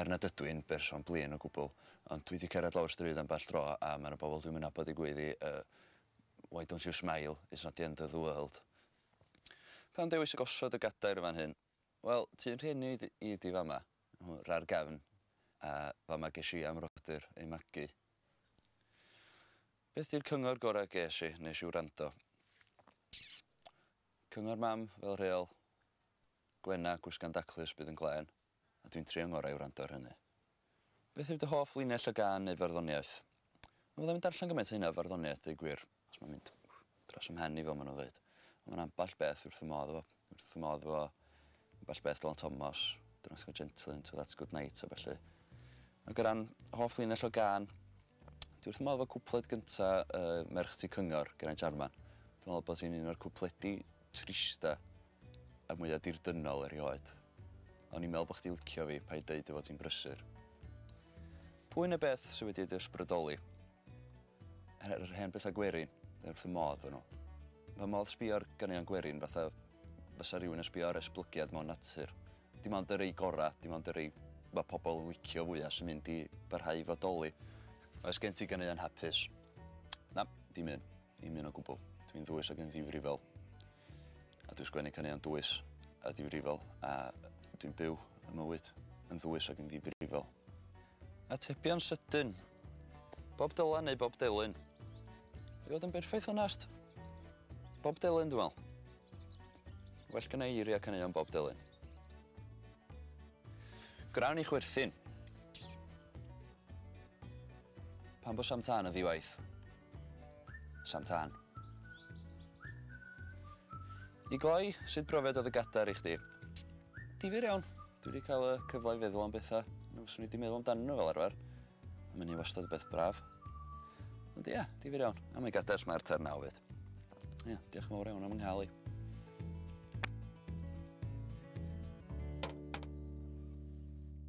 er nad ydw i'n berson blin o gwbl, ond dwi 'di cerdded lawr y stryd ambell dro a ma' 'na bobl dwi'm yn nabod yn gweiddi yy Why don't you smile, it's not the end of the world. Pam dewis y gosod y gadair yn fan hyn? Wel, tŷ yn rhieni i i ydi fama, hwn, ra'r gefn, a fama gesh i a'm rodyr ei magu. Beth di'r cyngor gora ges i, nes i wrando? Cyngor mam, fel rheol, gwena, gwisga'n daclus, bydd yn glên. a dwi'n trio 'ngorau i wrando ar hynny. Beth yw dy hoff linell o gân neu farddoniaeth? Dw ddim yn darllen gymaint o hynna o farddoniaeth deud gwir. Achos mae'n mynd dros 'y mhen i fel ma' nhw'n ddeud. Ond mae 'na ambell beth dwi wrth fy modd efo. Dwi wrth fy modd efo ambell beth Dylan Thomas, Dynas Go Gentle, Into That Good Night a ballu. Ag o ran hoff linell o gân, Dwi wrth fy modd efo cwpled gynta uh, Merch Tŷ Cyngor, Geraint Jarman. Dwi'n meddwl bod hi'n un o'r cwpledi trista a mwyaf dirdynnol erioed. O'n i'n meddwl bod chdi licio fi, pa i dweud efo ti'n brysur. Pwy na beth sydd wedi ei ysbrydoli? Yr hen bethau gwerin, neu wrth y modd fy nhw. Fy modd sbio'r ganeuon gwerin fatha fysa rhywun yn sbio ar esblygiad mewn natur. Dim ond y rei gora, dim ond y rei ma' pobl yn licio fwya sy'n mynd i barhau i fodoli. Oes gen ti ganeuon hapus? Na, dim un. Dim un o gwbl. Dwi'n ddwys ac yn ddifrifol. A dwi'n sgwennu caneuon dwys a difrifol a dwi'n byw y mywyd yn ddwys ac yn ddifrifol. Atebion sydyn. Bob Dylan neu Bob Delyn? I fod yn berffaith onest, Bob Delyn dwi'n meddwl. Well gynna i eiriau caneuon Bob Dylan. Gwnawn ni chwerthin. Pam bod Sam Tân yn ddiwaith? Sam Tân. I gloi, sut brofiad oedd y gadar i chdi? Difyr iawn. Dwi wedi cael y cyfle i feddwl am bethau na fyswn i wedi meddwl amdanyn nhw fel arfer. Mae hynny wastad yn beth braf. Ond ia, difyr iawn. A mae'n gader os mae'r terna o fyd. Ia, diolch yn fawr iawn am ynghael i.